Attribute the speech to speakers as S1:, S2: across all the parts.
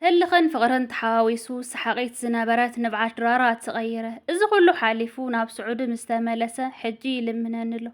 S1: ህልኽን ፍቕርን ተሓዋዊሱ ሰሓቒት ዝነበረት ንብዓት ድራራ ተቐይረ። እዚ ኩሉ ሓሊፉ ናብ ስዑዲ ምስ ተመለሰ ሕጂ ይልምነኒ ኣሎ።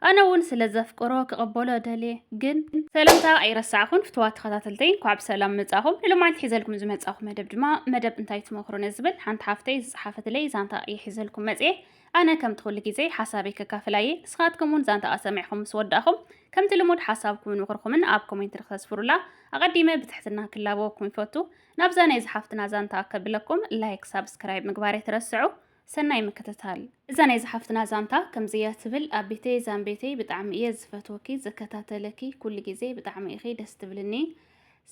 S1: ኣነ እውን ስለ ዘፍቅሮ ክቕበሎ ደልየ። ግን ሰላምታ ኣይረሳዕኹን ፍትዋት ተኸታተልተይ እንኳዕ ብሰላም መጻኹም። ንሎማዓንቲ ሒዘልኩም ዝመጻኹ መደብ ድማ መደብ እንታይ ትመኽሩኒ ዝብል ሓንቲ ሓፍተይ ዝጸሓፈትለይ ዛንታ እየ ሒዘልኩም መጽየ። ኣነ ከምቲ ኩሉ ግዜ ሓሳበይ ከካፍል ኣየ ንስኻትኩም ውን ዛንታኣ ሰሚዕኹም ምስ ወዳእኹም ከምቲ ልሙድ ሓሳብኩምን ምኽርኹምን ኣብ ኮሜንት ንክተስፍሩላ ኣቐዲመ ብትሕትና ክላበወኩም ይፈቱ ናብዛ ናይዛ ሓፍትና ዛንታኣ ከብለኩም ላይክ ሳብስክራይብ ምግባር ኣይትረስዑ ሰናይ ምክትታል እዛ ናይዛ ሓፍትና ዛንታ ከምዚ እያ ትብል ኣቢተይ ዛምቤተይ ብጣዕሚ እየ ዝፈትወኪ ዝከታተለኪ ኩሉ ግዜ ብጣዕሚ ኢኺ ደስ ትብልኒ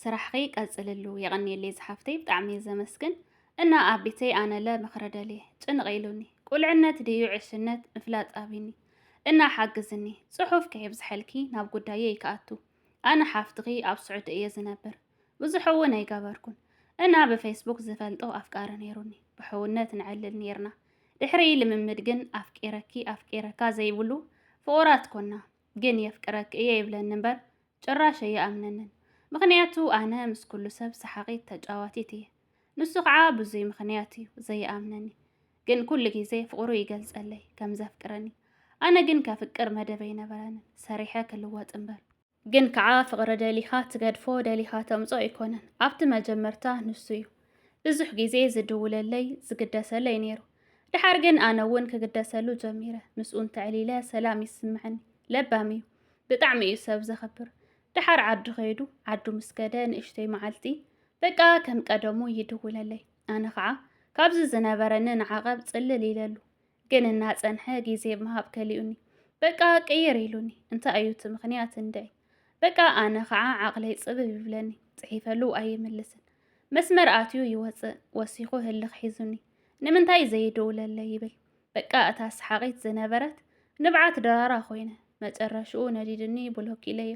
S1: ስራሕኺ ቀፅልሉ የቐንየለይ ዝሓፍተይ ብጣዕሚ እየ ዘመስግን እና ኣቢተይ ኣነለ ምኽሪ ደልየ ጭንቕ ኢሉኒ ቁልዕነት ድዩ ዕሽነት ምፍላጥ ኣቢኒ እና ሓግዝኒ ጽሑፍ ከየብዝሐልኪ ናብ ጉዳየይ ክኣቱ ኣነ ሓፍትኺ ኣብ ስዑዲ እየ ዝነብር ብዙሕ እውን ኣይገበርኩን እና ብፌስቡክ ዝፈልጦ ኣፍቃሪ ነይሩኒ ብሕውነት ንዕልል ነይርና ድሕሪ ልምምድ ግን ኣፍቂረኪ ኣፍቂረካ ዘይብሉ ፍቑራት ኮና ግን የፍቅረኪ እየ ይብለኒ እምበር ጭራሽ ኣይኣምነንን ምኽንያቱ ኣነ ምስ ኩሉ ሰብ ሰሓቒት ተጫዋቲት እየ ንሱ ከዓ ብዙይ ምኽንያት እዩ ዘይኣምነኒ ግን ኩሉ ግዜ ፍቕሩ ይገልጸለይ ከም ዘፍቅረኒ ኣነ ግን ከፍቅር መደበ ይነበረንን ሰሪሐ ክልወጥ እምበር ግን ከዓ ፍቕሪ ደሊኻ ትገድፎ ደሊኻ ተምጾ ኣይኮነን ኣብቲ መጀመርታ ንሱ እዩ ብዙሕ ግዜ ዝድውለለይ ዝግደሰለይ ነይሩ ድሓር ግን ኣነ እውን ክግደሰሉ ጀሚረ ምስኡ እንተዕሊለ ሰላም ይስምዐኒ ለባም እዩ ብጣዕሚ እዩ ሰብ ዘኽብር ደሓር ዓዲ ኸይዱ ዓዱ ምስ ከደ ንእሽተይ መዓልቲ በቃ ከም ቀደሙ ይድውለለይ ኣነ ኸዓ ካብዚ ዝነበረኒ ንዓቐብ ጽልል ኢለሉ ግን እናጸንሐ ግዜ ምሃብ ከሊኡኒ በቃ ቅይር ኢሉኒ እንታይ እዩ እቲ ምኽንያት እንድዒ በቃ ኣነ ኸዓ ዓቕለይ ጽብብ ይብለኒ ጽሒፈሉ ኣይምልስን መስመር ኣትዩ ይወጽእ ወሲኹ ህልኽ ሒዙኒ ንምንታይ ዘይድውለለይ ይብል በቃ እታ ሰሓቒት ዝነበረት ንብዓት ድራራ ኮይነ መጨረሽኡ ነዲድኒ ብሎክ ኢለዮ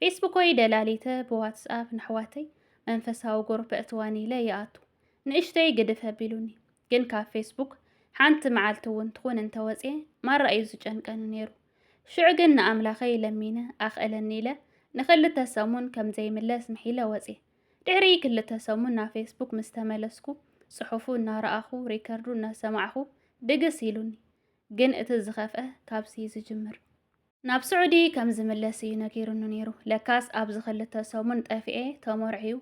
S1: ፌስቡኮይ ደላሊተ ብዋትስኣፕ ነሕዋተይ መንፈሳዊ ጉሩፕ እእትወን ኢለ ይኣቱ ንእሽተይ ግድፍ ኣቢሉኒ ግን ካብ ፌስቡክ ሓንቲ መዓልቲ እውን ትኹን እንተወፅየ ማራ እዩ ዝጨንቀኒ ነይሩ ሽዑ ግን ንኣምላኸይ ለሚነ ኣኽእለኒ ኢለ ንኽልተ ሰሙን ከም ዘይምለስ ምሒለ ወፅየ ድሕሪ ክልተ ሰሙን ናብ ፌስቡክ ምስ ተመለስኩ፣ ጽሑፉ እናረኣኹ፣ ሪከርዱ እናሰማዕኹ ድግስ ኢሉኒ። ግን እቲ ዝኸፍኣ ካብዚ'ዩ ዝጅምር። ናብ ስዑዲ ከም ዝምለስ እዩ ነጊሩኒ ነይሩ። ለካስ ኣብዚ ክልተ ሰሙን ጠፊኤ ተመርዕዩ፣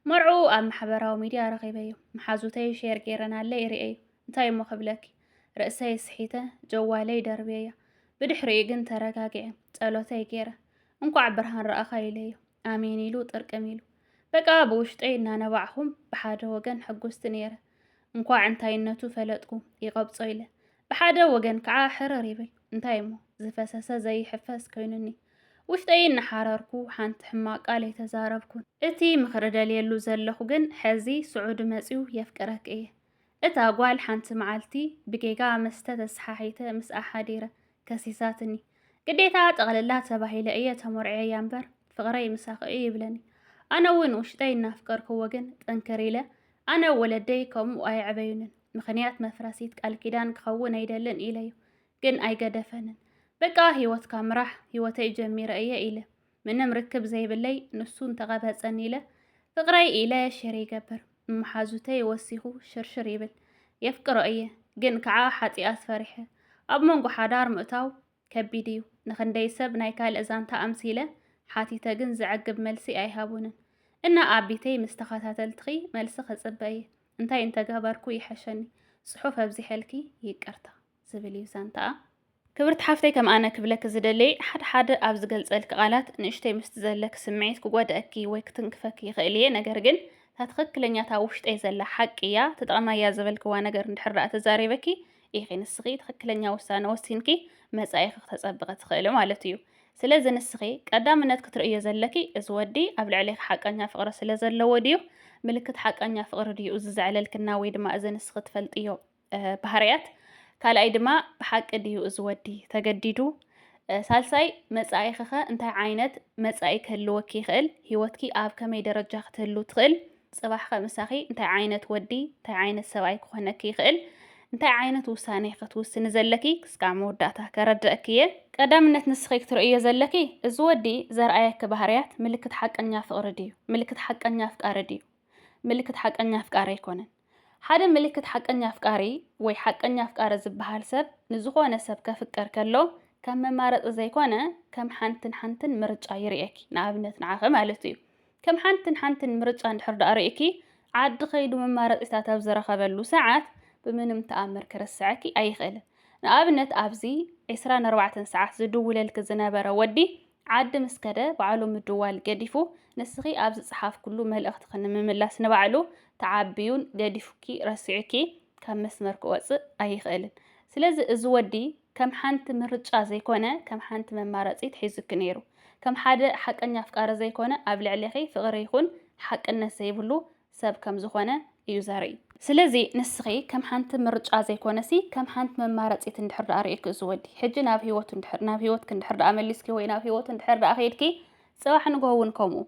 S1: መርዕኡ ኣብ ማሕበራዊ ሚድያ ረኺበዮ። መሓዙተይ ሼር ገይረናለይ ርእየዮ። እንታይ'ሞ ክብለኪ፣ ርእሰይ ስሒተ ጀዋለይ ደርብየያ። ብድሕሪኡ ግን ተረጋጊዐ፣ ጸሎተይ ገይረ። እንኳዕ ብርሃን ረኣኻ ኢለዮ ኣሜን ኢሉ ጥርቅም ኢሉ በቃ ብውሽጠይ እናነባዕኹም ብሓደ ወገን ሕጉስቲ ነይረ እንኳዕ እንታይነቱ ፈለጥኩ ይቐብጾ ኢለ ብሓደ ወገን ከዓ ሕርር ይብል እንታይ እሞ ዝፈሰሰ ዘይሕፈስ ኮይኑኒ ውሽጠይ እናሓረርኩ ሓንቲ ሕማቅ ቃል የተዛረብኩን እቲ ምኽሪ ደልየሉ ዘለኹ ግን ሕዚ ስዑዲ መፅዩ የፍቅረክ እየ እታ ጓል ሓንቲ መዓልቲ ብጌጋ መስተ ተሰሓሒተ ምስኣ ሓዲረ ከሲሳትኒ። ግዴታ ጠቕልላ ተባሂለ እየ ተመርዕየያ እምበር ፍቕረይ ምሳኺ እዩ ይብለኒ። ኣነ እውን ውሽጠይ እናፍቀርክዎ ግን ጥንክር ኢለ ኣነ ወለደይ ከምኡ ኣየዕበዩንን ምኽንያት መፍረሲት ቃል ኪዳን ክኸውን ኣይደልን ኢለዩ ግን ኣይገደፈንን። በቃ ህይወትካ ምራሕ ህይወተይ ጀሚረ እየ ኢለ። ምንም ርክብ ዘይብለይ ንሱ እንተቐበፀኒ ኢለ ፍቅረይ ኢለ ሸር ይገብር መሓዙተይ ወሲኹ ሽርሽር ይብል የፍቅሮ እየ ግን ከዓ ሓጢኣት ፈሪሐ ኣብ መንጎ ሓዳር ምእታው ከቢድ እዩ ንክንደይ ሰብ ናይ ካልእ ዛንታ ኣምሲለ ሓቲተ ግን ዘዕግብ መልሲ ኣይሃቡንን እና ኣቢተይ ምስ ተኸታተልትኺ መልሲ ክፅበ እየ እንታይ እንተገበርኩ ይሐሸኒ ፅሑፍ ኣብዚሐልኪ ይቅርታ ዝብል እዩ ዛንታኣ። ክብርቲ ሓፍተይ ከም ኣነ ክብለኪ ዝደለይ ሓደ ሓደ ኣብ ዝገልጸልኪ ቃላት ንእሽተይ ምስቲ ዘለኪ ስምዒት ክጎድኣኪ ወይ ክትንክፈኪ ይኽእል እየ ነገር ግን እታ ትኽክለኛ እታ ውሽጠይ ዘላ ሓቂ እያ ትጠቕማ እያ ዝበልክዋ ነገር እንድሕር ደኣ ተዛሪበኪ ኢኺ ንስኺ ትኽክለኛ ውሳነ ወሲንኪ መጻኢኺ ክተጸብቐ ትኽእሊ ማለት እዩ ስለዚ ንስኺ ቀዳምነት ክትርእዮ ዘለኪ እዚ ወዲ ኣብ ልዕሌኺ ሓቀኛ ፍቕሪ ስለ ዘለዎ ድዩ ምልክት ሓቀኛ ፍቕሪ ድዩ እዚ ዘዕለልክና ወይ ድማ እዚ ንስኺ ትፈልጥዮ ባህርያት፣ ካልኣይ ድማ ብሓቂ ድዩ እዚ ወዲ ተገዲዱ፣ ሳልሳይ መጻኢኺኸ እንታይ ዓይነት መጻኢ ክህልወኪ ይኽእል፣ ህይወትኪ ኣብ ከመይ ደረጃ ክትህሉ ትኽእል፣ ጽባሕኸ ምሳኺ እንታይ ዓይነት ወዲ እንታይ ዓይነት ሰብኣይ ክኾነኪ ይኽእል፣ እንታይ ዓይነት ውሳኔ ክትውስኒ ዘለኪ ክስካዕ መወዳእታ ከረድአኪ እየ። ቀዳምነት ንስኺ ክትርእዮ ዘለኪ እዚ ወዲ ዘርኣየኪ ባህርያት ምልክት ሓቀኛ ፍቕሪ ድዩ፣ ምልክት ሓቀኛ ኣፍቃሪ ድዩ፣ ምልክት ሓቀኛ ኣፍቃሪ ኣይኮነን። ሓደ ምልክት ሓቀኛ ኣፍቃሪ ወይ ሓቀኛ ኣፍቃሪ ዝበሃል ሰብ ንዝኾነ ሰብ ከፍቅር ከሎ ከም መማረፂ ዘይኮነ ከም ሓንትን ሓንትን ምርጫ ይርእየኪ ንኣብነት ንዓኺ ማለት እዩ ከም ሓንትን ሓንትን ምርጫ እንድሕር ዳኣ ርእኪ ዓዲ ከይዱ መማረፂታት ኣብ ዝረኸበሉ ሰዓት ብምንም ተኣምር ክርስዐኪ ኣይኽእልን ንኣብነት ኣብዚ ዕስራን ኣርባዕተን ሰዓት ዝድውለልኪ ዝነበረ ወዲ ዓዲ ምስ ከደ ባዕሉ ምድዋል ገዲፉ ንስኺ ኣብ ዝጸሓፍክሉ መልእኽትኺ ንምምላስ ንባዕሉ ተዓብዩን ገዲፉኪ ረሲዑኪ ካብ መስመር ክወጽእ ኣይኽእልን። ስለዚ እዚ ወዲ ከም ሓንቲ ምርጫ ዘይኮነ ከም ሓንቲ መማረጺት ሒዙኪ ነይሩ። ከም ሓደ ሓቀኛ ኣፍቃሪ ዘይኮነ ኣብ ልዕሌኺ ፍቕሪ ይኹን ሓቅነት ዘይብሉ ሰብ ከም ዝኾነ እዩ ዘርኢ። ስለዚ ንስኺ ከም ሓንቲ ምርጫ ዘይኮነሲ ከም ሓንቲ መማረጺት እንድሕር ደኣ ርኢኪ እዚ ወዲ ሕጂ ናብ ህይወቱ እንድሕር ናብ ህይወትኪ እንድሕር ደኣ መሊስኪ ወይ ናብ ህይወቱ እንድሕር ደኣ ከይድኪ ጽባሕ ንግሆ እውን ከምኡ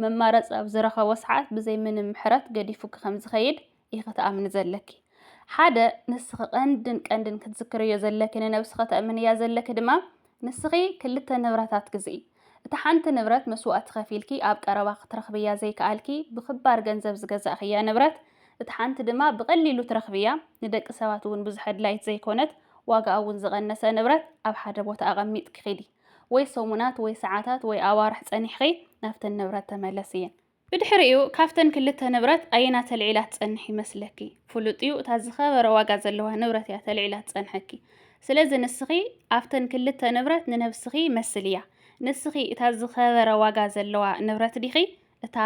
S1: መማረጺ ኣብ ዝረኸቦ ሰዓት ብዘይ ምንም ምሕረት ገዲፉኪ ከም ዝኸይድ ኢኺ ትኣምኒ ዘለኪ። ሓደ ንስኺ ቀንድን ቀንድን ክትዝክርዮ ዘለኪ ንነብስኺ ተእምንያ ዘለኪ ድማ ንስኺ ክልተ ንብረታት ግዝኢ። እታ ሓንቲ ንብረት መስዋእቲ ከፊልኪ ኣብ ቀረባ ክትረኽብያ ዘይከኣልኪ ብኽባር ገንዘብ ዝገዛእኽያ ንብረት፣ እታ ሓንቲ ድማ ብቐሊሉ ትረኽብያ፣ ንደቂ ሰባት እውን ብዙሕ ኣድላዪት ዘይኮነት፣ ዋጋኣ እውን ዝቐነሰ ንብረት ኣብ ሓደ ቦታ ኣቐሚጥኪ ኺዲ። ወይ ሰሙናት ወይ ሰዓታት ወይ ኣዋርሕ ጸኒሕኺ ናብተን ንብረት ተመለስየን። ብድሕሪኡ ካብተን ክልተ ንብረት ኣየና ተልዒላ ትጸንሕ ይመስለኪ? ፍሉጥ'ዩ እታ ዝኸበረ ዋጋ ዘለዋ ንብረት እያ ተልዒላ ትጸንሐኪ። ስለዚ ንስኺ ኣብተን ክልተ ንብረት ንነብስኺ መስልያ። ንስኺ እታ ዝኸበረ ዋጋ ዘለዋ ንብረት ዲኺ? እታ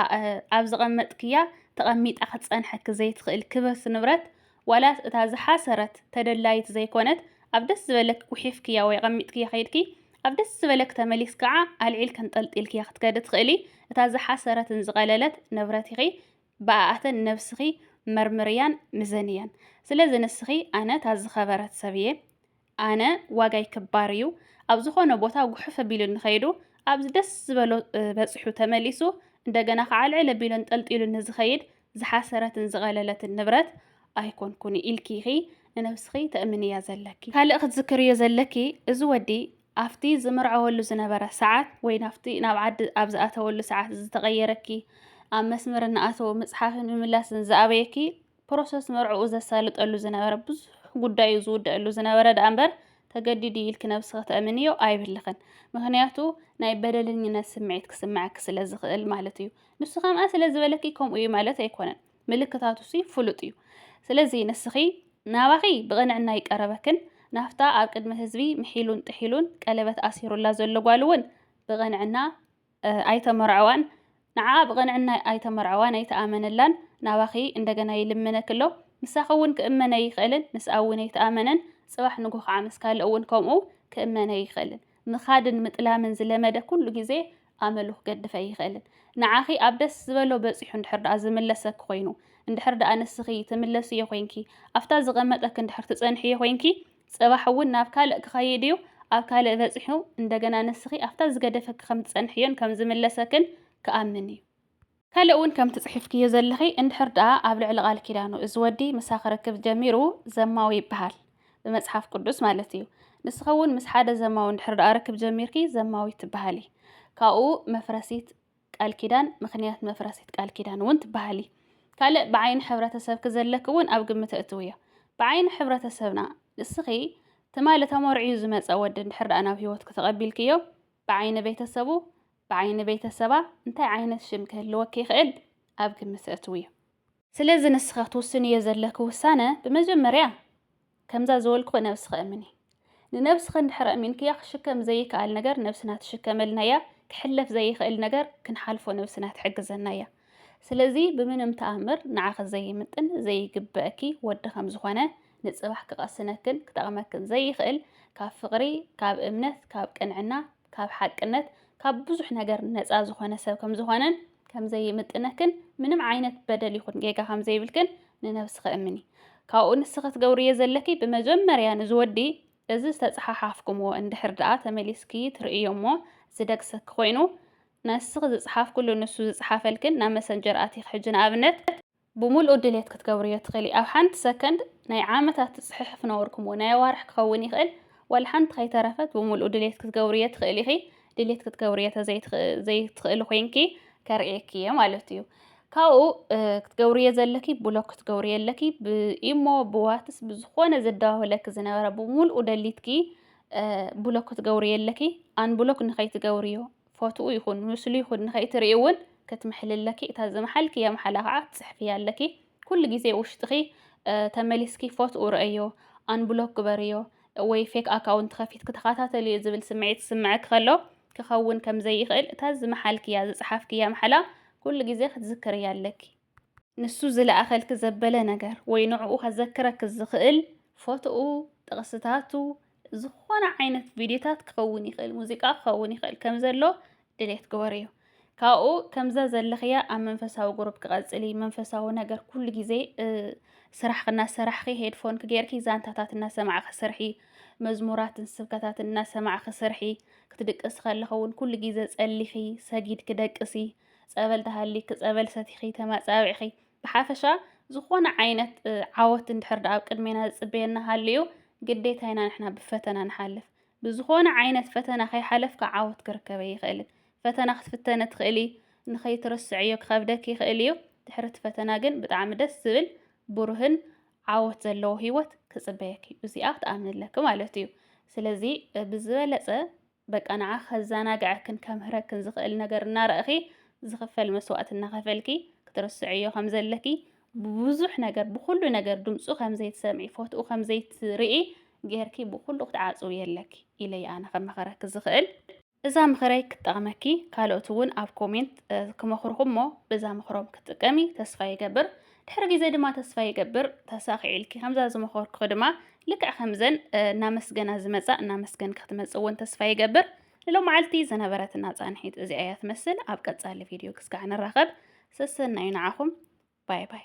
S1: ኣብ ዝቐመጥክያ ተቐሚጣ ክትጸንሐኪ ዘይትኽእል ክብርቲ ንብረት ዋላስ እታ ዝሓሰረት ተደላይት ዘይኮነት ኣብ ደስ ዝበለኪ ጉሒፍክያ ወይ ኣቐሚጥክያ ከይድኪ ኣብ ደስ ዝበለኪ ተመሊስኪ ከኣ ኣልዒልኪ ኣንጠልጢልክያ ክትከዲ ትኽእሊ እታ ዝሓሰረትን ዝቐለለት ንብረት ኢኺ ብኣኣተን ነብስኺ መርምርያን ምዘንያን ስለዚ ንስኺ ኣነ እታ ዝኸበረት ሰብ እየ ኣነ ዋጋይ ክባር እዩ ኣብ ዝኾነ ቦታ ጉሕፍ ኣቢሉኒ ከይዱ ኣብዚ ደስ ዝበሎ በፂሑ ተመሊሱ እንደገና ከዓ ልዕል ኣቢሉን ጠልጢሉኒ ዝኸይድ ዝሓሰረትን ዝቐለለትን ንብረት ኣይኮንኩን ኢልኪ ኢኺ ንነብስኺ ተእምንያ ዘለኪ። ካልእ ክትዝክርዮ ዘለኪ እዚ ወዲ ኣብቲ ዝምርዐወሉ ዝነበረ ሰዓት ወይ ናብቲ ናብ ዓዲ ኣብ ዝኣተወሉ ሰዓት ዝተቐየረኪ ኣብ መስመር እናኣተወ ምፅሓፍን ምምላስን ዝኣበየኪ ፕሮሰስ መርዕኡ ዘሳልጠሉ ዝነበረ ብዙሕ ጉዳዩ ዝውደኣሉ ዝነበረ ደኣ እምበር ተገዲዱ እዩ ኢልኪ ነብስኺ ተእምንዮ ኣይብልኽን ምኽንያቱ ናይ በደለኝነት ስምዒት ክስምዓኪ ስለ ዝኽእል ማለት እዩ ንሱ ከምኣ ስለ ዝበለኪ ከምኡ እዩ ማለት ኣይኮነን ምልክታቱሲ ፍሉጥ እዩ ስለዚ ንስኺ ናባኺ ብቕንዕና ይቀረበክን ናፍታ ኣብ ቅድሚ ህዝቢ ምሒሉን ጥሒሉን ቀለበት ኣሲሩላ ዘሎ ጓል እውን ብቕንዕና ኣይተመርዐዋን ንዓኣ ብቕንዕና ኣይተመርዐዋን ኣይተኣመነላን ናባኺ እንደገና ይልምነኪ ኣሎ ምሳኺ እውን ክእመን ኣይኽእልን ምስኣ እውን ኣይተኣመነን ፅባሕ ንጉህ ከዓ ምስ ካልእ እውን ከምኡ ክእመን ኣይኽእልን ምኻድን ምጥላምን ዝለመደ ኩሉ ግዜ ኣመሉ ክገድፍ ኣይኽእልን ንዓኺ ኣብ ደስ ዝበሎ በፂሑ እንድሕር ደኣ ዝምለሰኪ ኮይኑ እንድሕር ደኣ ንስኺ ትምለስዮ ኮይንኪ ኣብታ ዝቐመጠኪ እንድሕር ትፀንሕዮ ኮይንኪ ጽባሕ እውን ናብ ካልእ ክኸይድ እዩ፣ ኣብ ካልእ በጺሑ እንደገና ንስኺ ኣብታ ዝገደፈኪ ከም ትጸንሕዮን ከም ዝምለሰክን ክኣምን እዩ። ካልእ እውን ከምቲ ጽሒፍክዮ ዘለኺ እንድሕር ደኣ ኣብ ልዕሊ ቃል ኪዳኑ እዚ ወዲ ምሳ ክርክብ ጀሚሩ ዘማዊ ይበሃል ብመጽሓፍ ቅዱስ ማለት እዩ። ንስኺ እውን ምስ ሓደ ዘማዊ እንድሕር ደኣ ርክብ ጀሚርኪ ዘማዊት ትበሃሊ። ካብኡ መፍረሲት ቃል ኪዳን ምኽንያት መፍረሲት ቃል ኪዳን እውን ትበሃሊ። ካልእ ብዓይኒ ሕብረተሰብኪ ዘለኪ እውን ኣብ ግምት እእትውዮ። ብዓይኒ ሕብረተሰብና ንስኺ ትማሊ ተመርዕዩ ዝመጸ ወዲ እንድሕር ደኣ ናብ ህይወትኪ ተቐቢልክዮ ብዓይኒ ቤተሰቡ ብዓይኒ ቤተሰባ እንታይ ዓይነት ሽም ክህልወኪ ይኽእል ኣብ ግምት እእትውዮ። ስለዚ ንስኺ ክትውስንዮ ዘለኪ ውሳነ ብመጀመርያ ከምዛ ዝበልኩኺ ነብስኺ እምኒ። ንነብስኺ እንድሕር ኣእሚንክያ ክሽከም ዘይክኣል ነገር ነብስና ትሽከመልናያ፣ ክሕለፍ ዘይኽእል ነገር ክንሓልፎ ነብስና ትሕግዘናያ። ስለዚ ብምንም ተኣምር ንዓኺ ዘይምጥን ዘይግበእኪ ወዲ ከም ዝኾነ ንጽባሕ ክቐስነክን ክጠቕመክን ዘይኽእል ካብ ፍቕሪ ካብ እምነት ካብ ቅንዕና ካብ ሓቅነት ካብ ብዙሕ ነገር ነፃ ዝኾነ ሰብ ከም ዝኾነን ከም ዘይምጥነክን ምንም ዓይነት በደል ይኹን ጌጋ ከም ዘይብልክን ንነብስኺ እምኒ። ካብኡ ንስኺ ትገብርዮ ዘለኪ ብመጀመርያ ንዝወዲ እዚ ዝተፀሓሓፍኩምዎ እንድሕር ድኣ ተመሊስኪ ትርእዮ እሞ ዝደግሰኪ ኮይኑ ነስኺ ዝፀሓፍክሉ ንሱ ዝፀሓፈልክን ናብ መሰንጀር ኣቲኺ ሕጂ ንኣብነት ብምሉኡ ድልየት ክትገብርዮ ትኽእሊ። ኣብ ሓንቲ ሰከንድ ናይ ዓመታት ትጽሕሕፍ ነበርኩምዎ ናይ ኣዋርሕ ክኸውን ይኽእል ዋላ ሓንቲ ከይተረፈት ብምሉኡ ድልየት ክትገብርዮ ትኽእሊ ኢኺ። ድልየት ክትገብርዮ ተዘይትኽእሊ ኮይንኪ ከርእየኪ እየ ማለት እዩ። ካብኡ ክትገብርዮ ዘለኪ ብሎክ ክትገብርዮ ኣለኪ ብኢሞ ብዋትስ ብዝኾነ ዘደዋውለኪ ዝነበረ ብምሉኡ ደሊትኪ ብሎክ ክትገብርዮ ኣለኪ ኣንብሎክ ንኸይትገብርዮ ፎትኡ ይኹን ምስሉ ይኹን ንኸይትርእይ እውን ክትምሕሊ ኣለኪ። እታ ዝመሓልክያ መሓላ ከዓ ትፅሕፍያ ኣለኪ። ኩሉ ግዜ ውሽጥኺ ተመሊስኪ ፎትኡ ረእዮ፣ ኣንብሎክ ግበርዮ ወይ ፌክ ኣካውንት ከፊትኪ ተኸታተልዮ ዝብል ስምዒት ዝስምዐኪ ከሎ ክኸውን ከም ዘይኽእል እታ ዝመሓልክያ ዝፀሓፍክያ መሓላ ኩሉ ግዜ ክትዝክርያ ኣለኪ። ንሱ ዝለኣኸልኪ ዘበለ ነገር ወይ ንዕኡ ከዘክረኪ ዝኽእል ፎቶኡ፣ ጥቕስታቱ፣ ዝኾነ ዓይነት ቪድዮታት ክኸውን ይኽእል፣ ሙዚቃ ክኸውን ይኽእል ከም ዘሎ ድሌት ግበርዮ። ካብኡ ከምዛ ዘለኽያ ኣብ መንፈሳዊ ግሩፕ ክቐጽሊ መንፈሳዊ ነገር ኩሉ ግዜ ስራሕ እናሰራሕኺ ሄድፎን ክገርኪ ዛንታታት እናሰማዕኺ ስርሒ፣ መዝሙራትን ስብከታትን እናሰማዕኺ ስርሒ፣ ክትድቅሲ ከለኺ እውን ኩሉ ግዜ ጸሊኺ ሰጊድኪ ደቅሲ። ጸበል ተሃሊኪ ጸበል ሰቲኺ ተማጻቢዕኺ ብሓፈሻ ዝኾነ ዓይነት ዓወት እንድሕር ደኣ ኣብ ቅድሜና ዝጽበየና ሃልዩ ግዴታ ኢና ንሕና ብፈተና ንሓልፍ ብዝኾነ ዓይነት ፈተና ከይሓለፍካ ዓወት ክርከበ ይኽእልን ፈተና ክትፍተነ ትኽእሊ ንኸይትርስዕዮ ክኸብደክ ይኽእል እዩ ድሕሪ እቲ ፈተና ግን ብጣዕሚ ደስ ዝብል ብሩህን ዓወት ዘለዎ ህይወት ክፅበየክ እዩ እዚኣ ክትኣምንለኪ ማለት እዩ ስለዚ ብዝበለፀ በቃ ንዓ ከዛናግዐክን ከምህረክን ዝኽእል ነገር እናረእኺ ዝኽፈል መስዋእቲ እናኸፈልኪ ክትርስዕዮ ከም ዘለኪ ብብዙሕ ነገር ብኹሉ ነገር ድምፁ ከም ዘይትሰምዒ ፎትኡ ከም ዘይትርኢ ጌርኪ ብኹሉ ክትዓፅው የለኪ ኢለ ኣነ ከመኸረኪ ዝኽእል እዛ ምኽረይ ክትጠቕመኪ ካልኦት እውን ኣብ ኮሜንት ክመኽርኹም እሞ በዛ ምኽሮም ክትጥቀሚ ተስፋ ይገብር። ድሕሪ ግዜ ድማ ተስፋ ይገብር ተሳኺዒልኪ ከምዛ ዝመኸርኩኺ ድማ ልክዕ ከምዘን እናመስገና ዝመጻ እናመስገንኪ ክትመጽእ እውን ተስፋ ይገብር ንሎመዓልቲ ዝነበረትና ጻንሒት እዚኣ እያ ትመስል ኣብ ቀጻሊ ቪድዮ ክስካዕ ንራኸብ ሰሰናዩ ንዓኹም ባይ ባይ